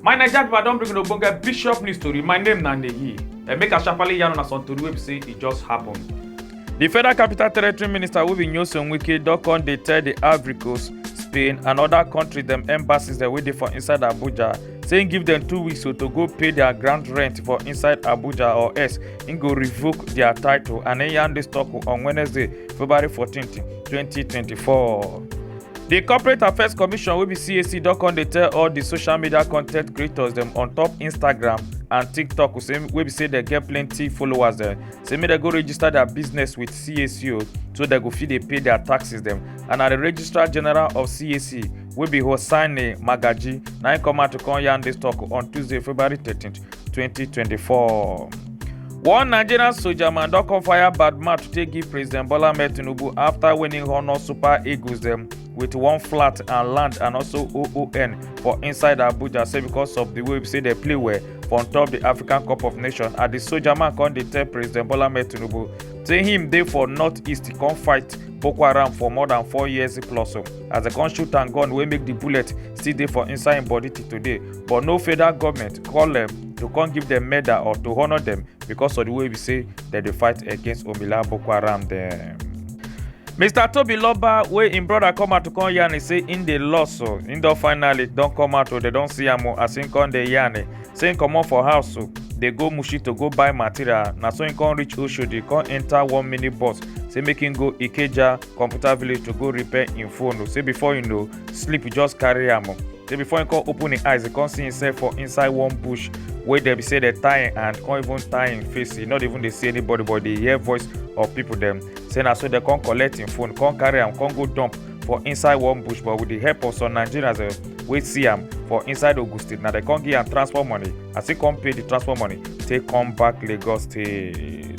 my naija people i don bring una ogbonge bishop news tori my name na neyi and make i sharparly yarn una some tori wey be say e just happen. di federal capital territory minister wey be nyesom wike don come dey tell di africos spain and oda kontris dem embassies dem wey dey for inside abuja say im give dem two weeks so to go pay dia ground rent for inside abuja or else im go revoke dia title and im yarn dis tok on wednesday february 14 2024. di corporate affairs commission wey be cac don come dey tell all di social media content creators dem on top instagram and tiktok wey be say dem get plenty followers dem say make dem go register dia business wit cac o so dem go fit dey pay dia taxes dem and na di registrar general of cac wey be Hosseini Magaji, na im come out to come yarn this talk on Tuesday, February 13, 2024. One Nigerian soldier man don come fire bad mouth to take give President Bola Ahmed Tinubu after winning honour Super Eagles dem with one flat and land and also OON for inside Abuja say because of the way say they play well for on top the African Cup of Nations and the soldier man come dey tell President Bola Ahmed Tinubu say him dey for northeast come fight Boko Haram for more than four years plus. as dem come shoot am gun wey make di bullet still dey for inside im body till today but no federal goment call dem to come give dem medal or to honour dem because of di way be say dem dey fight against omila boko haram dem. mr tobi loba wey im brother come out to come yarn say im dey loss o im don finally don come out o dem don see am o as im come dey yarn say im comot for house o dey go mushi to go buy material na so im come reach oshodi come enta one minibus say make im go ikeja computer village to go repair im phone o say before you know sleep just carry am o say before he come open him eyes he come see himself for inside one bush wey dem be say dey tie him hand come even tie him face he not even dey see anybody but dey hear voice of people dem say na so dem come collect him phone come carry am come go dump for inside one bush but with the help of some nigerians uh, wey see am for inside ogun state na dem come give am transport money as he come pay the transport money take come back lagos state.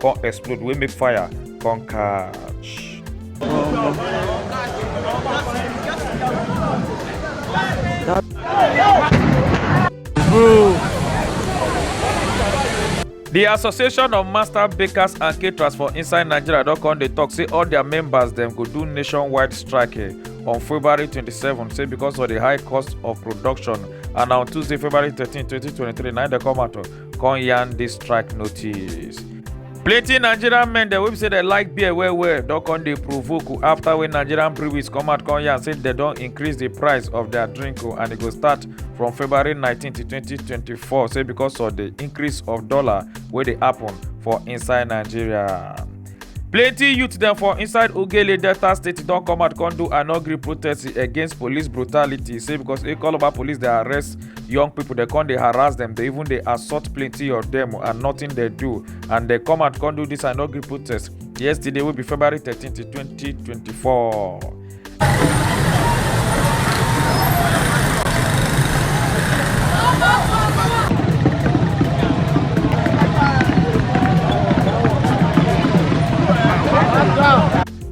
come explode wey make fire come catch. The Association of Master Bakers and Caterers for inside Nigeria don come dey talk say all their members dem go do nationwide strike eh, on February 27 say because of the high cost of production and na on Tuesday February 13, 2023 na im dey come out oh, come yarn this strike notice. plenty nigerian men dem wey be say dem like beer well well don come dey provoke o after wey nigerian breweries come out come yarn say dem don increase the price of their drink o and e go start from february 19 to 2024 say because of the increase of dollar wey dey happen for inside nigeria. plenty youth dem for inside ogele delta state don come out come do an angry protest against police brutality say because ekoloba police dey arrest young people dey come dey harass dem dey even dey assault plenty of dem and nothing dey do and dey come out come do this an angry protest yesterday wey be february thirteen twenty twenty four.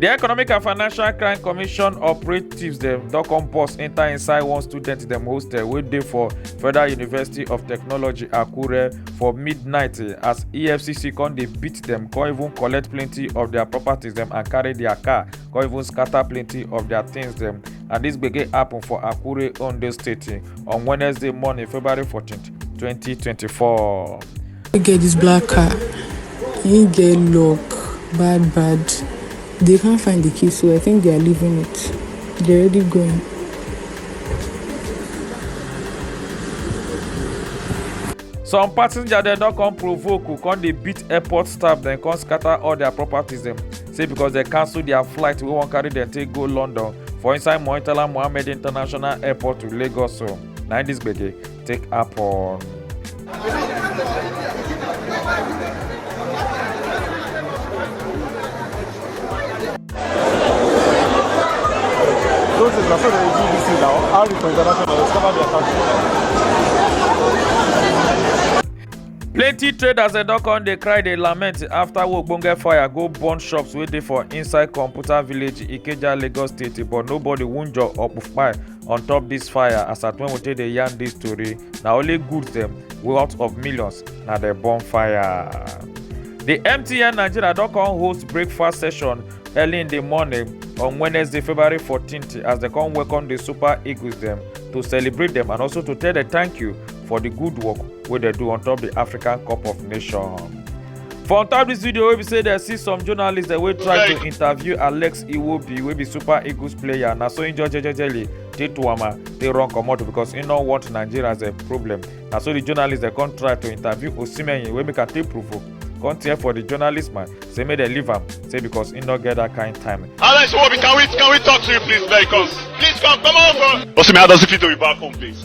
The Economic and Financial Crime Commission operatives dem don come burst enter inside one student dem hostel wey dey for Federal University of Technology Akure for midnight eh, as EFCC come dey beat dem come even collect plenty of their properties dem and carry their car come even scatter plenty of their things dem and this gbege happen for akure ondo state on wednesday morning february 14 2024. You get this black car, you get lock, bad, bad. They can't find the key, so I think they are leaving it. They're already going. some passenger dem don come provoke come dey beat airport staff dem come scatter all their properties dem say because dem cancel dia flight wey wan carry dem take go london for inside murtala muhammed international airport to lagos so na im dis gbege take happen. Those is na so dem do dis thing now. How the international discover their country. plenty traders dem don come dey cry dey lament after ogbonge fire go burn shops wey dey for inside computer village ikeja lagos state but nobody wunjure or kpai on top dis fire as at when we take dey yarn dis tori na only goods dem worth of millions na dem burn fire. di mtn nigeria don come host breakfast session early in di morning on wednesday february 14th as dem come welcome di super eagles dem to celebrate dem and also to tell dem thank you for the good work wey dem do on top the african cup of nations for on top this video wey be say dem see some journalists dem wey try to interview alex iwobi wey be super eagles player na so im just jejely dey to am ah, dey run comot because im no want nigeria as a problem na so the journalists dem come try to interview osimhen wey make am take provoke come tear for the journalist man say make dem leave am say because im no get that kind time. alex iwobi can we can we talk to you please very come please come come over. osimhen how does it feel to be back home please.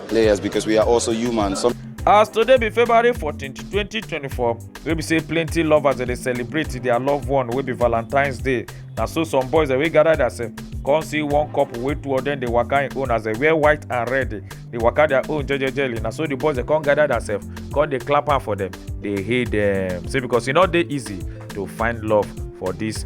players because we are also human. Some As today be February 14, 2024, we be say plenty lovers that they celebrate their loved one will be Valentine's Day. Now so some boys that we gather that say, come see one couple wey two of them dey waka im own as they wear white and red dey waka their own jejejely na so the boys dey come gather themselves come dey clap am for them dey hail them say because e no dey easy to find love for this